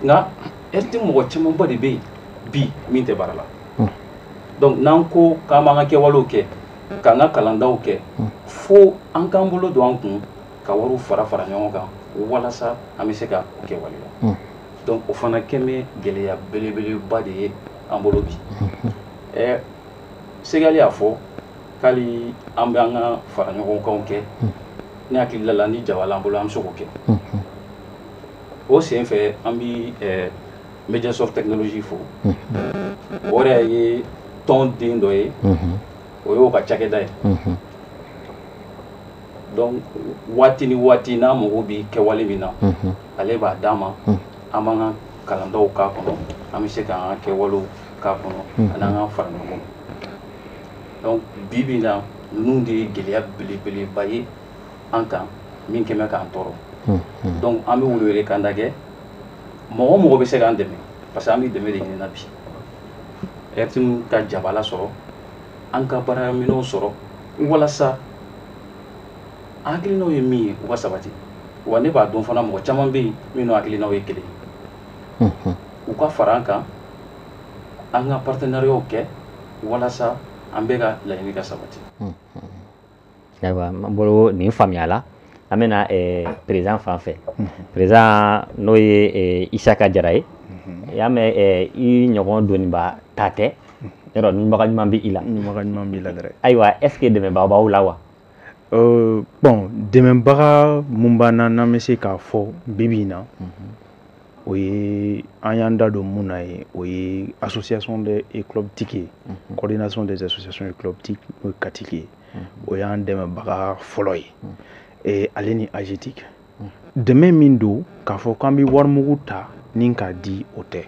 nka RTM mɔgɔ camanba de bɛ yen bi min tɛ baara la hmm. donc n'an ko k'an b'an ka kɛwalew kɛ k'an ka kalandaw kɛ hmm. fo an k'an bolo don an kun ka wariw fara fara ɲɔgɔn kan walasa an bɛ se ka o kɛwale la hmm. donc o fana kɛ bɛ gɛlɛya belebeleba de ye an bolo bi ɛ segali y'a fɔ k'ali an bɛ an ka faraɲɔgɔnkanw kɛ ne hakili la la ni jabala an bolo an bɛ se k'o kɛ o sen fɛ an bɛ ɛ Mediasoft Technologie fo o yɛrɛ ye tɔn den dɔ ye o y'o ka cakɛda ye donc waati ni waati n'a mago bɛ kɛwale min na ale b'a d'an ma an b'an ka kalandaw k'a kɔnɔ an bɛ se ka an ka kɛwalew k'a kɔnɔ hmm. ani an ka fara ɲɔgɔn donc bi bi na ninnu de ye gɛlɛya belebeleba ye an kan min kɛ bɛ k'an tɔɔrɔ hmm, hmm. donc an bɛ welewele kan da kɛ mɔgɔ o mɔgɔ bɛ se k'an dɛmɛ parce que an bɛ dɛmɛ de ɲini na bi RTM ka jabala sɔrɔ an ka baaraminɛnw sɔrɔ walasa an hakilinaw ye min ye u ka sabati wa ne b'a dɔn fana mɔgɔ caman bɛ yen minnu hakilinaw ye kelen ye u ka fara an kan an ka partenariatw kɛ walasa an bɛɛ ka laɲini ka sabati ayiwa n bolo nin faamuya la an bɛna eh, président fan fɛ président n'o ye eh, isaka jara ye i y'a mɛn eh, i ɲɔgɔn doniba ta tɛ yɔrɔ ɲunbaga ɲuman bɛ i la ɲuman b'i la dɛ ayiwa est ce que dɛmɛbaa b'aw la wa bon dɛmɛbaga minnu b'an na n'an bɛ se k'a fɔ bi bi in na o ye an y'an da don min na ye o ye association des clubs TIC ye coordination des associations et clubs TIC CACTIC ye o y'an dɛmɛbaga fɔlɔ ye ale ni AGETIC dɛmɛ min don k'a fɔ k'an bɛ warimugu ta ni k'a di o tɛ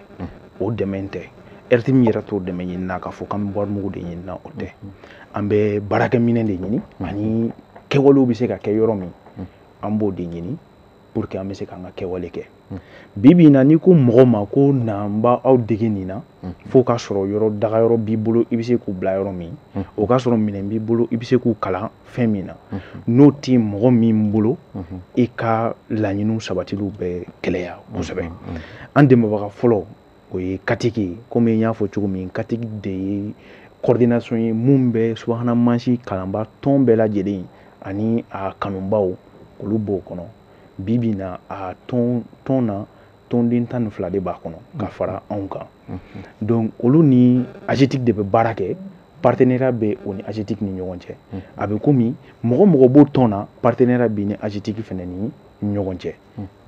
o dɛmɛ tɛ RTM yɛrɛ t'o dɛmɛ ɲini na k'a fɔ k'an bɛ warimugu de ɲini na o tɛ an bɛ baarakɛminɛ de ɲini ani kɛwalew bɛ se ka kɛ yɔrɔ min an b'o de ɲini pour que an bɛ se k'an ka kɛwale kɛ bi bi in na n'i ko mɔgɔ ma ko na n b'aw dege nin na f'o k'a sɔrɔ yɔrɔ dagayɔrɔ b'i bolo i bɛ se k'u bila yɔrɔ min o k'a sɔrɔ minɛn b'i bolo i bɛ se k'u kalan fɛn min na n'o tɛ mɔgɔ min bolo i ka laɲini sabatiliw bɛ gɛlɛya kosɛbɛ an dɛmɛbaga fɔlɔ o ye CACTIC ye komi n y'a fɔ cogo min CACTIC de ye coordination ye minnu bɛ subahana mansin kalanba tɔn bɛɛ lajɛlen ani a kanubaw olu b'o kɔnɔ bi bi na a tɔn na tɔnden tan ni fila de b'a kɔnɔ ka fara anw kan donc olu ni AGETIC de bɛ baara kɛ partenariat bɛ o ni AGETIC ni ɲɔgɔn cɛ a bɛ komi mɔgɔ mɔgɔ b'o tɔn na partenariat bɛ ni AGETIC fɛnɛ ni ɲɔgɔn cɛ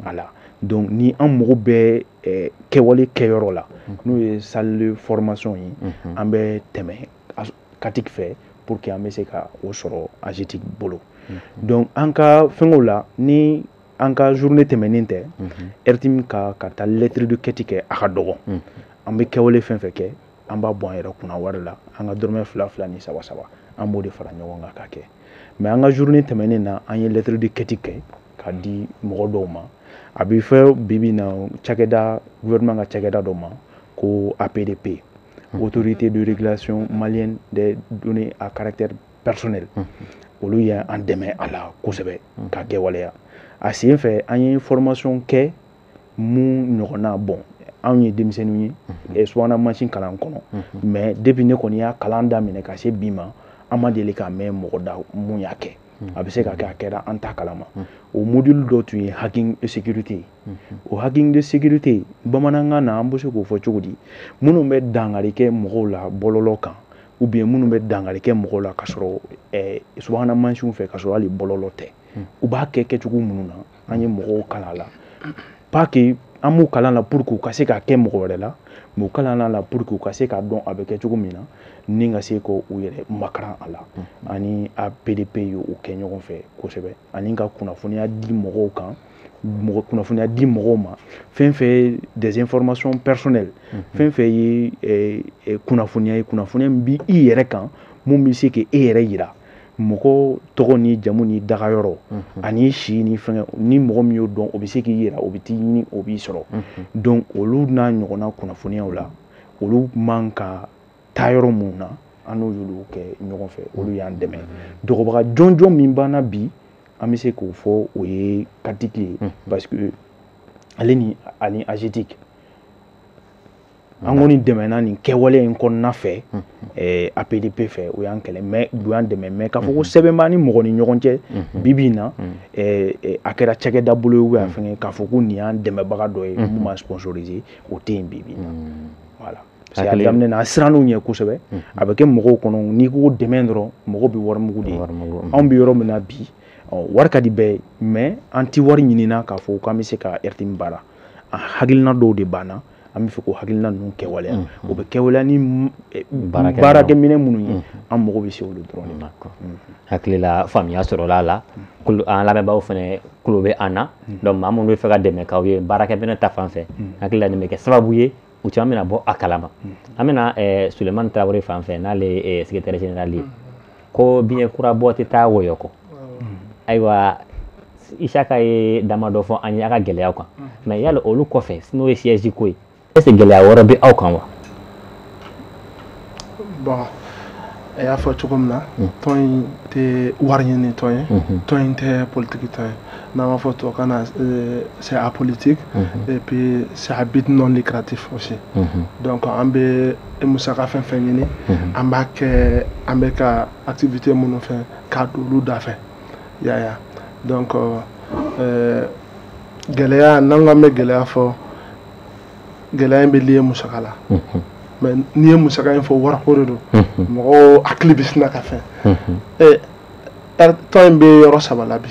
voilà donc ni an mago bɛ eh, kɛwale kɛyɔrɔ la n'o ye salle de formation ye an bɛ tɛmɛ CATIC fɛ pour que an bɛ se ka o sɔrɔ AGETIC bolo donc an ka fɛngɛw la ni an ka journée tɛmɛnen tɛ RTM ka taa lettre de quête kɛ a ka dɔgɔ an bɛ kɛwale fɛn fɛn kɛ an b'a bɔ an yɛrɛ kunna wari la an ka dɔrɔmɛ fila fila ni saba saba an b'o de fara ɲɔgɔn kan ka kɛ mais an ka journée tɛmɛnen na an ye lettre de quête kɛ ka di mɔgɔ dɔw ma a bɛ fɛ bibi na cakɛda gouvernement ka cakɛda dɔ ma ko APDP autorité de régulation malienne des données à caractère personnel olu ye an dɛmɛ a la kosɛbɛ ka kɛwaleya a sen fɛ an ye formation kɛ mun ɲɔgɔnna bon anw ye denmisɛnninw ye eh, subahana mansin kalan kɔnɔ mais depuis ne kɔni y'a kalan daminɛ ka se bi ma an ma deli k'a mɛn mɔgɔ da mun y'a kɛ a bɛ se ka kɛ a kɛra an t'a kalama o module dɔ tun ye hacking sécurité ye o hacking de sécurité bamanankan na an bɛ se k'o fɔ cogo di minnu bɛ dankari kɛ mɔgɔw la bɔlɔlɔ kan ou bien minnu bɛ dankari kɛ mɔgɔw la ka sɔrɔ eh, subahana mansinw fɛ ka sɔrɔ hali bɔlɔlɔ tɛ hmm. u b'a kɛ kɛcogo minnu na an ye mɔgɔw kalan la pas que an b'u kalan la pour que u ka se k'a kɛ mɔgɔ wɛrɛ la mais u kalan la pour que u ka se k'a dɔn a bɛ kɛ cogo min na ni ka se k'u yɛrɛ makaran a la hmm. ani APDP ye o kɛ ɲɔgɔn fɛ kosɛbɛ ani ka kunnafoniya di mɔgɔw kan kunnafoniya di mɔgɔw ma fɛn fɛn ye des informations personnelles mhm. fɛn fɛn ye eh, eh, kunnafoniya ye kunnafoniya min b'i yɛrɛ kan mun bɛ se k'e yɛrɛ yira mɔgɔ tɔgɔ ni jamu ni dagayɔrɔ mhm. ani si ni fɛngɛ ni mɔgɔ min y'o dɔn o bɛ se k'i yira o bɛ t'i ɲini o b'i sɔrɔ mhm. donc olu n'a ɲɔgɔnna kunnafoniyaw la olu man ka taa yɔrɔ minnu na an y'olu kɛ ɲɔgɔn fɛ olu y'an dɛmɛ dɛmɛbaga jɔnjɔn min b'an na bi an bɛ se k'o fɔ o ye CATIC ye parce que ale ni ani AGETIC an kɔni dɛmɛna nin kɛwale in kɔnɔna fɛ eh, APDP fɛ o y'an kɛlɛ mais u y'an dɛmɛ mais k'a fɔ ko sɛbɛn b'an ni mɔgɔ ni ɲɔgɔn cɛ bibi in na eh, eh, a kɛra cakɛda bolo ye ou bien a fɛngɛ k'a fɔ ko nin y'an dɛmɛbaga dɔ ye mun b'an sponsoriser o tɛ yen bibi in na voilà parce que a daminɛ na an sirann'u ɲɛ kosɛbɛ a bɛ kɛ mɔgɔw kɔnɔ n'i ko dɛmɛ dɔrɔn mɔgɔw bɛ warimugu de ye anw bɛ yɔrɔ min na bi wari ka di bɛɛ ye mais an tɛ wari ɲinina k'a fɔ k'an bɛ se ka RTM baara a hakilina dɔw de b'an na an bɛ fɛ k'o hakilina ninnu kɛwaleya o bɛ kɛwaleya ni baarakɛminɛn minnu ye an mago bɛ se olu dɔrɔn de ma hakilila faamuya sɔrɔla a la an lamɛnbaaw fana tulo bɛ an na donc maa minnu bɛ fɛ ka dɛmɛ k'aw ye baarakɛminɛn ta fan fɛ hakilila nin bɛ kɛ sababu ye u caman bɛna bɔ a kalama an bɛna eh, sulemani tarawele fan fɛ n'ale ye eh, secrétaire général ye ko biɲɛ kura bɔ tɛ taa wɔyɔ kɔ ayiwa isaka ye dama dɔ fɔ an ye a ka gɛlɛyaw kan mais yala olu kɔfɛ n'o ye siège ko ye est ce que gɛlɛya wɛrɛ bɛ aw kan wa bon a y'a fɔ cogo min na hmm. tɔn in tɛ wari ɲini tɔn ye hmm. tɔn in tɛ politiki tɔn ye n'an b'a fɔ tubabukan na euh, c'est apolitique hmm. et puis c'est à but non lucratif aussi donc an bɛ musaka fɛn fɛn ɲini an b'a kɛ an bɛ ka activité minnu fɛ k'a don olu da fɛ yaya donc euh, gɛlɛya n'an k'an bɛ gɛlɛya fɔ gɛlɛya in bɛ lié musaka la mais n'i ye musaka in fɔ wariko de don mɔgɔw hakili bɛ sina ka fɛn tɔn in bɛ yɔrɔ saba la bi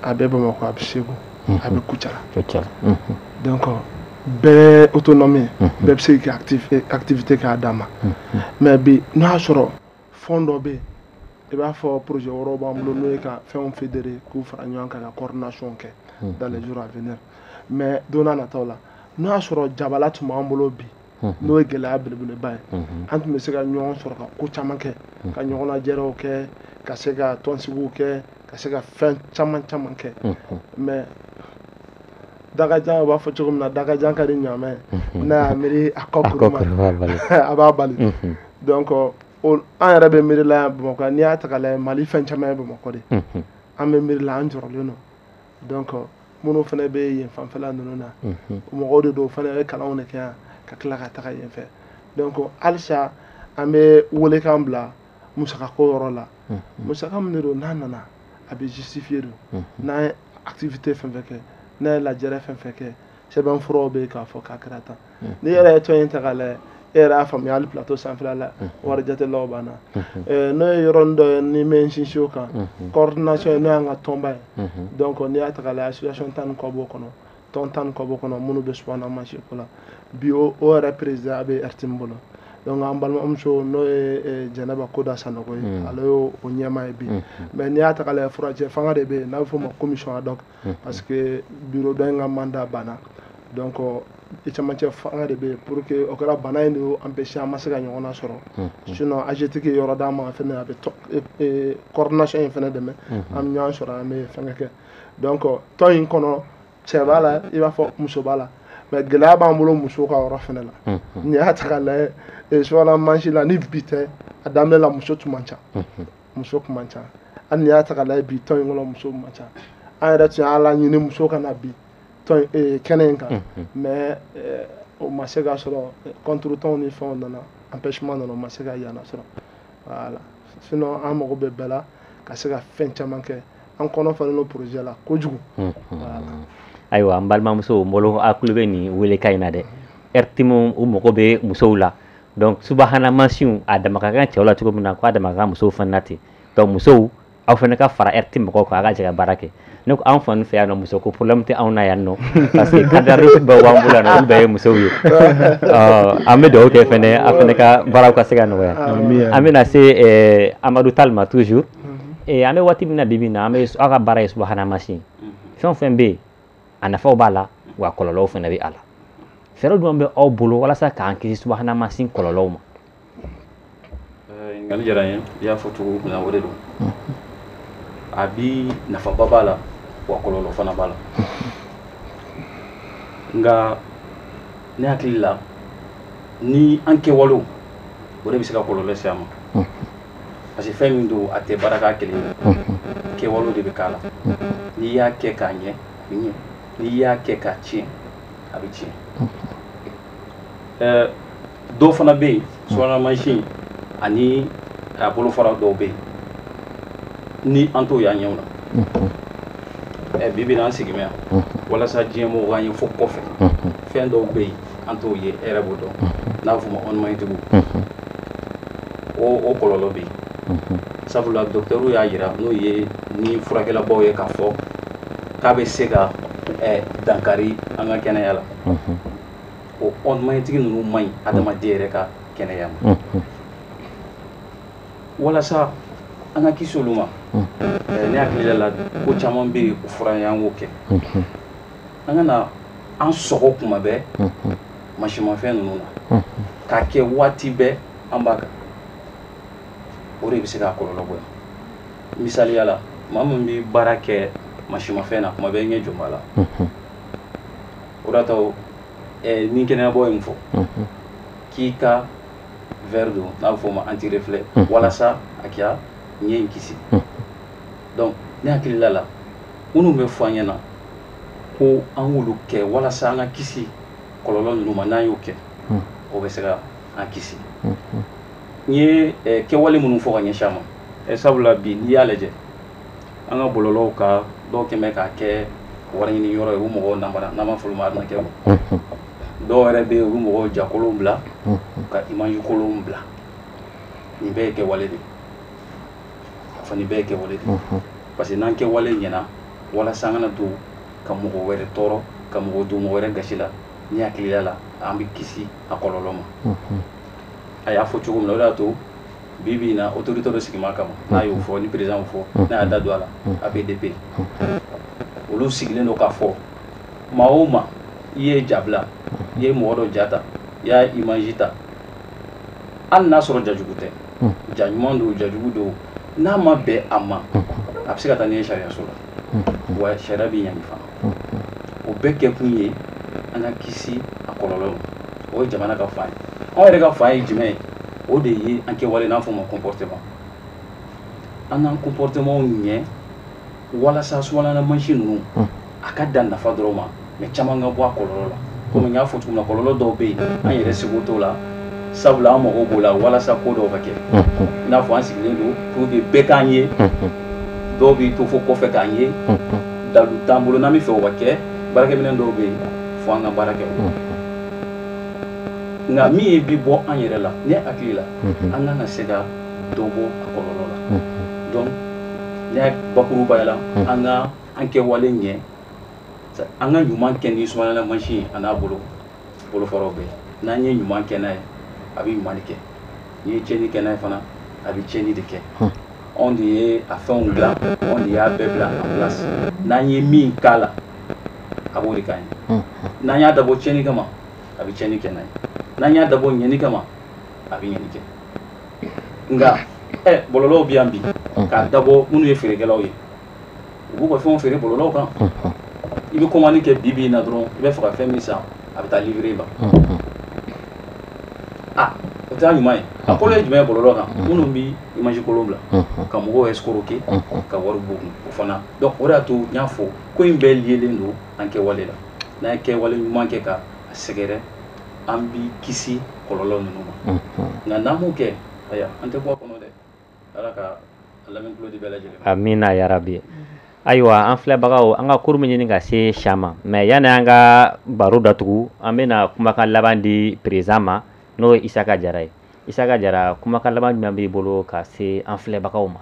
a bɛ bamakɔ a bɛ segu a bɛ kucala donc bɛɛ autonomie bɛɛ bɛ se k'i activité k'a dama mais bi n'a y'a sɔrɔ fonds dɔ bɛ yen i b'a fɔ projet wɛrɛw b'an bolo n'o ye ka fɛnw fédérer k'u fara ɲɔgɔn kan ka coordination kɛ dans les jours à venir mais don nataw la n'a y'a sɔrɔ jabala tun b'an bolo bi n'o ye gɛlɛya belebeleba ye an tun bɛ se ka ɲɔgɔn sɔrɔ ka ko caman kɛ ka ɲɔgɔn lajɛrɛw kɛ ka se ka tɔnsigiw kɛ ka se ka fɛn caman caman kɛ mais dakajan u b'a fɔ cogo min na dakajan ka di ɲaamɛ n'a y'a miiri a kɔ kuru ma a b'a bali donc an yɛrɛ bɛ miiri la yan bamakɔ n'i y'a ta k'a lajɛ mali fɛn caman ye bamakɔ de an bɛ miiri la an jɔrɔlen don donc minnu fana bɛ yen fanfɛla ninnu na mɔgɔw de don fana bɛ kalanw de kɛ yan ka tila ka taga yen fɛ donc halisa an bɛ welekan bila musakako yɔrɔ la musaka min de don n'a nana a bɛ justifier don n'an ye activité fɛn fɛn kɛ n'an ye lajɛrɛ fɛn fɛn kɛ sɛbɛnfuraw bɛ yen k'a fɔ k'a kɛra tan n'i yɛrɛ ye tɔn in ta k'a lajɛ e yɛrɛ y'a faamuya hali plateau sanfɛla la wari jatelaw b'an na n'o ye yɔrɔnin dɔ ye ne bɛ n sinsin o kan coordination n'o y'an ka tɔnba ye donc n'i y'a ta k'a lajɛ association tan ni kɔ b'o kɔnɔ tɔn tan ni kɔ b'o kɔnɔ minnu bɛ subahana mansin ko la bi o yɛrɛ président a bɛ RTM bolo donc an balimamuso n'o ye jɛnɛba koda sanogo ye ale y'o ɲɛmaa ye bi mais n'i y'a ta k'a lajɛ furancɛ fanga de bɛ yen n'a bɛ f'o ma commission ad hoc parce que bureau dɔ in ka mandat banna donc i cɛmancɛ fanga de bɛ yen pour que o kɛra bana in de y'o empêcher an ma se ka ɲɔgɔn na sɔrɔ sinon AGETIC ye yɔrɔ d'an ma fɛnɛ a bɛ coordination in fɛnɛ dɛmɛ an bɛ ɲɔgɔn sɔrɔ an bɛ fɛnkɛ kɛ donc tɔn in kɔnɔ cɛ b'a la i b'a fɔ muso b'a la mais gɛlɛya b'an bolo musow ka yɔrɔ fɛnɛ la n'i y'a ta k'a lajɛ subahana mansin la ni bi tɛ a daminɛ la muso tun man ca muso tun man ca hali n'i y'a ta k'a lajɛ bi tɔn in kɔnɔ muso man ca an yɛrɛ tun y'a laɲini muso ka na bi tɔn eh, kɛnɛ in kan mais eh, o ma se ka sɔrɔ contretemps ni fɛnw nana empêchement nana o ma se ka yana sɔrɔ voilà sinon an mago bɛ bɛɛ la ka se ka fɛn caman kɛ an kɔnɔ falen don projet la kojugu voilà ayiwa n balimamuso n bolo a kulo bɛ nin welekan in na dɛ rtm u mago bɛ musow la donc subahana mansinw a dama ka kan cɛw la cogo min na k'a dama ka kan musow fana na ten donc musow aw fana ka fara rtm mɔgɔw kan a ka jɛ ka baara kɛ ne ko anw fana fɛ yan nɔ muso ko problème tɛ anw na yan nɔ parce que cadre bɛɛ b'an bolo yan nɔ olu bɛɛ ye musow ye an bɛ dugawu kɛ fɛnɛ a fɛnɛ ka baaraw ka se ka nɔgɔya an bɛna se eh, amadu tall ma toujours mhm. eh, an bɛ waati min na bi bi in na an bɛ aw ka baara ye subahana mansin mhm. fɛn o fɛn bɛ yen a nafaw b'a la wa kɔlɔlɔw fana bɛ a la fɛɛrɛ jumɛn bɛ aw bolo walasa k'an kisi subahana mansin kɔlɔlɔw ma ɲininkali diyara n ye i y'a fɔ cogo min na o de don a bi nafaba b'a la wa kɔlɔlɔ fana b'a la nka ne hakili la ni an kɛwalew o de bɛ se ka kɔlɔlɔ se a ma parce que fɛn min don a tɛ baara k'a kelen ye kɛwalew de bɛ k'a la n'i y'a kɛ k'a ɲɛ a bɛ ɲɛ n'i y'a kɛ k'a tiɲɛ a bɛ tiɲɛ ɛɛ dɔ fana bɛ yen subahana mansin ani a bolofara dɔw bɛ yen ni an t'o y'an ɲɛw na ɛɛ bi bi in na an sigi mɛ yan walasa diɲɛ mɔgɔw k'an ye fo kɔfɛ fɛn dɔw bɛ yen an t'o ye e yɛrɛ b'o dɔn n'a bɛ f'o ma ondes magnétiques o kɔlɔlɔ bɛ yen sabula docteurw y'a yira n'o ye ni furakɛlabaaw ye k'a fɔ k'a bɛ se ka dankari an ka kɛnɛya la o onde magnétique ninnu man ɲi adamaden yɛrɛ ka kɛnɛya ma walasa an ka kisi olu ma ne hakili la ko caman bɛ yen o fɔra an ye an k'o kɛ an kana an sɔgɔ kuma bɛɛ mansinmafɛn ninnu na k'a kɛ waati bɛɛ an b'a kan o de bɛ se k'a kɔlɔlɔ bonya misaliya la maa min bɛ baara kɛ mansinmafɛn na kuma bɛɛ i ɲɛ jɔ b'a la o de y'a to ni kɛnɛyabaaw ye min fɔ k'i ka verre don n'a bɛ f'o ma anti-reflet walasa a k'i ɲɛ in kisi donc ne hakilila la minnu bɛ fɔ an ɲɛna ko an k'olu kɛ walasa an ka kisi kɔlɔlɔ ninnu ma n'an y'o kɛ hmm. o bɛ se ka an kisi hmm, hmm. n ye eh, kɛwale minnu fɔ ka ɲɛsin a ma eh, sabula bi n'i y'a lajɛ an ka bɔlɔlɔw kan dɔw kɛ mɛ k'a kɛ wari ɲini yɔrɔ ye u mɔgɔw namara n'an b'a fɔ olu ma arnaqueurw dɔw yɛrɛ bɛ yen u bɛ mɔgɔw ja kolonw bila ka image kolonw bila nin bɛɛ ye kɛwale de ye a fana bɛɛ ye kɛwale de ye parce que n'an kɛwale ɲɛna walasa an kana to ka mɔgɔ wɛrɛ tɔɔrɔ ka mɔgɔ don mɔgɔ wɛrɛ gasi la ni hakilila la an bɛ kisi a kɔlɔlɔ ma a y'a fɔ cogo min na o de y'a to bi bi in na autorité dɔ sigima kama n'a y'o fɔ ni président y'o fɔ n'a y'a da don a la APDP olu sigilen don k'a fɔ maa o maa i ye ja bila i ye mɔgɔ dɔ ja ta i y'a image ta hali n'a sɔrɔ ja jugu tɛ ja ɲuman don ja jugu don n'a ma bɛn a ma a bɛ se ka taa n'i ye sariyaso la wa sariya b'i ɲangi fana o bɛɛ kɛkun ye an ka kisi a kɔlɔlɔ ma o ye jamana ka fan ye anw yɛrɛ ka fan ye jumɛn ye o de ye an kɛwale n'a fɔ ma comportement an k'an comportement ɲɛ walasa subahana mansin ninnu a ka dan nafa dɔrɔn ma mais caman ka bɔ a kɔlɔlɔ la komi n y'a fɔ cogo min na kɔlɔlɔ dɔw bɛ yen an yɛrɛ seko t'o la sabula an mago b'o la walasa ko dɔw ka kɛ i n'a fɔ an sigilen don pour que bɛɛ k'an ye dɔw b'i to fo kɔfɛ k'an ye dalu t'an bolo n'an bɛ fɛ o ka kɛ baarakɛminɛn dɔw bɛ yen fo an ka baara kɛ o nka min ye bi bɔ an yɛrɛ la ne hakili la an kan ka se ka dɔ bɔ a kɔlɔlɔ la donc ne y'a bakurubaya la an ka an kɛwale ɲɛ an ka ɲuman kɛ ni subahana mansin ye a n'a bolofaraw bɛɛ n'an ye ɲuman kɛ n'a ye a bɛ ɲuman de kɛ n'i ye tiɲɛni kɛ n'a ye fana a bɛ tiɲɛni de kɛ anw de ye a fɛnw bila anw de y'a bɛɛ bila en place n'an ye min k'a la a b'o de k'an ye n'an y'a dabɔ tiɲɛni kama a bɛ tiɲɛni kɛ n'a ye n'an y'a dabɔ ɲɛni kama a bɛ ɲɛni kɛ nka ɛ bɔlɔlɔw bɛ yan bi k'a dabɔ minnu ye feerekɛlaw ye u b'u ka fɛnw feere bɔlɔlɔw kan i bɛ commande kɛ bi bi in na dɔrɔn i bɛ fɛ ka fɛn min san a bɛ taa livrer i ma o t'a ɲuman ye a kolon ye jumɛn ye bɔlɔlɔ kan minnu bɛ image kolon bila ka mɔgɔw escroquer ka wari b'u kun o fana donc o de y'a to n y'a fɔ ko in bɛɛ lielen don an kɛwale la n'an ye kɛwale ɲuman kɛ ka a sɛgɛrɛ an bɛ kisi kɔlɔlɔ ninnu ma nka n'an m'o kɛ aya an tɛ bɔ a kɔnɔ dɛ ala ka lamɛn tulo di bɛɛ lajɛlen ma amina yarabi ayiwa an filɛbagaw an ka kuru min ɲini ka se sha ma mais yanni an ka baro datugu an bɛna kumakan laban di président ma n'o ye isaka jara ye isaka jara kumakan laban jumɛn b'i bolo ka se an filɛbagaw ma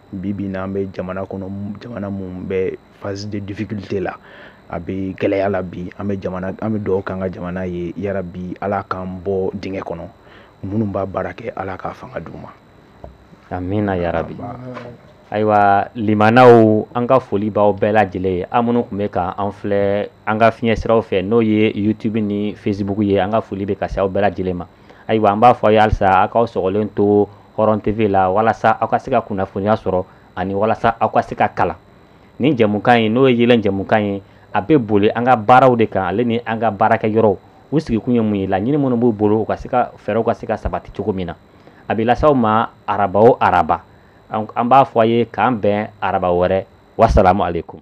bi bi in na an bɛ jamana kɔnɔ jamana min bɛ phase de difficulté la a bɛ gɛlɛya la bi an bɛ an bɛ dugawu k'an ka jamana ye yarabi ala k'an bɔ dingɛ kɔnɔ minnu b'a baara kɛ ala k'a fanga d'u ma amina yarabi ayiwa limanaw an ka foli b'aw bɛɛ lajɛlen ye aw minnu tun bɛ ka an filɛ an ka fiɲɛ siraw fɛ n'o ye youtube ni facebook ye an ka foli bɛ ka se aw bɛɛ lajɛlen ma ayiwa an b'a fɔ a ye halisa aw k'aw sɔgɔlen to hɔrɔn TV la walasa aw ka se ka kunnafoniya sɔrɔ ani walasa aw ka se ka kalan ni jɛmukan ye n'o ye yeelen jɛmukan ye a bɛ boli an ka baaraw de kan ale ni an ka baarakɛyɔrɔw u sigikun ye mun ye laɲini minnu b'u bolo u ka se ka fɛɛrɛw ka se ka sabati cogo min na a bɛ lase aw ma araba o araba an b'a fɔ a ye k'an bɛn araba wɛrɛ wasalamu aleyikum